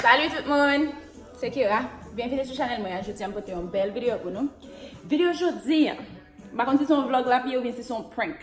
Salut tout moun, se Kira, byenvini sou chanel mwen an, jodi an pote yon bel video pou nou Video jodi an, m pa konn si son vlog lap ye oubyen si son prank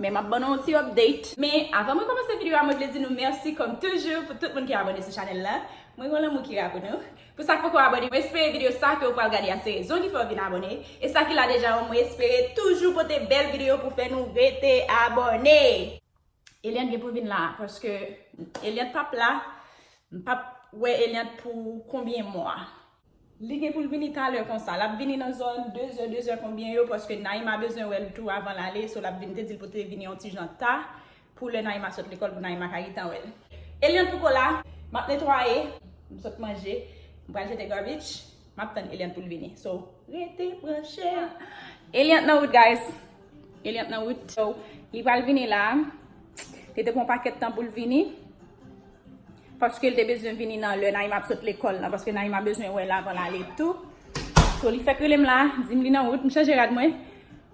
Men map ban nou yon ti update Men avan mwen komanse video a mwen vle di nou merci kom toujou pou tout moun ki abone sou chanel la Mwen gen yon lanmou Kira pou nou Pou sa k poko abone, mwen espere video sa ke ou pral gade a se rezon ki fè ou vin abone, e sa ki la deja yo mwen espere toujou pote bèl video pou fè nou rete abone! Eliante gen pou vin la paske Eliante pap la m pap wè Eliante pou konbyen mwa. Li gen poul vini talè konsa. Lap vini nan zòn 2 zè 2 zè konbyen yo paske Naïma bezwen wèl tou avan l ale so lap vini te dil pou te vini yon ti jan ta. Pou lè Naïma sot lekòl pou Naïma ka gentan wèl. Eliante poko la, map netwaye, m sot manje, m pral jete garbage, map tann Eliante poul vini. So rete branche. Eliante nan wout guys. Eliante nan wout. So li pral vini la. Li te pran yon pakèt tan poul vini. Paske li te bezwen vini nan lè Naïma ap sot lekòl la. Paske Naïma bezwen wèl avan lale tou. So li fèk relem la, dim li nan wout, m chanje rad mwen.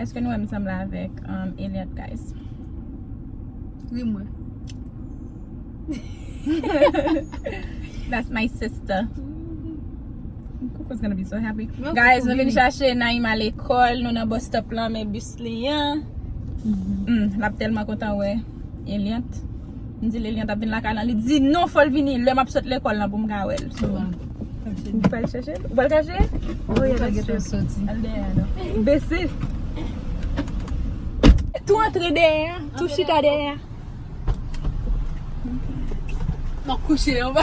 Eske nou wèm sanble avèk Eliante guys? Ri mwen. That's my sister. Coco's gonna be so happy. Guys, nou vin chache Naïma lekòl. Nou nan bus stop lan men bus li an. Lap tèlman kontan wè Eliante. M di Lilian t ap vin lakay lan li di non fò l vini lè m ap sot lekòl lan pou m ka wè l so m pou al chèche l ou pral kache l wi la gentan soti al dèyè a nou bese tou antre dèyè a tou chita dèyè a m ap kouche anba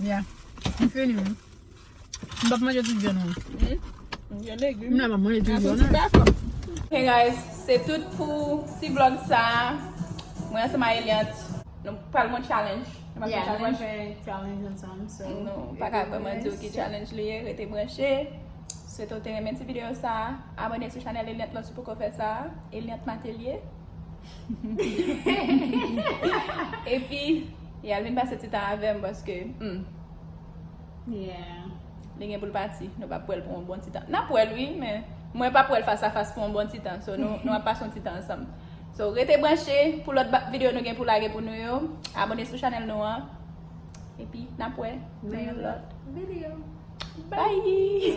Ya, m fini wi. M pap manje tout vyann lan. M gen legum. M nan pap manje tout vyann lan. Hey guys, se tout pou ti vlog sa. Mwen ansanm a Eliant. Nou pral gwen challenge. Nou pral gwen challenge. Yeah, nou pral fè challenge ansanm. So, e nou pa ka vreman di w ki challenge li ye. Rete branche. Swete w te renmen ti video sa. Abone sou chanèl Eliant la si w poko fè sa. Eliant Matelier. Epi Yal vin pase ti tan avèm paske humm Yeah Li gen poul pati nou pap wèl pou yon bon ti tan Nap wèl wi men mwen pap wèl fas a fas pou yon bon ti tan So nou ap pase yon ti tan ansanm So rete branche pou lòt videyo nou gen pou lage pou nou yo Abone sou chanèl nou an Epi nap wè nan yon lòt videyo Bye!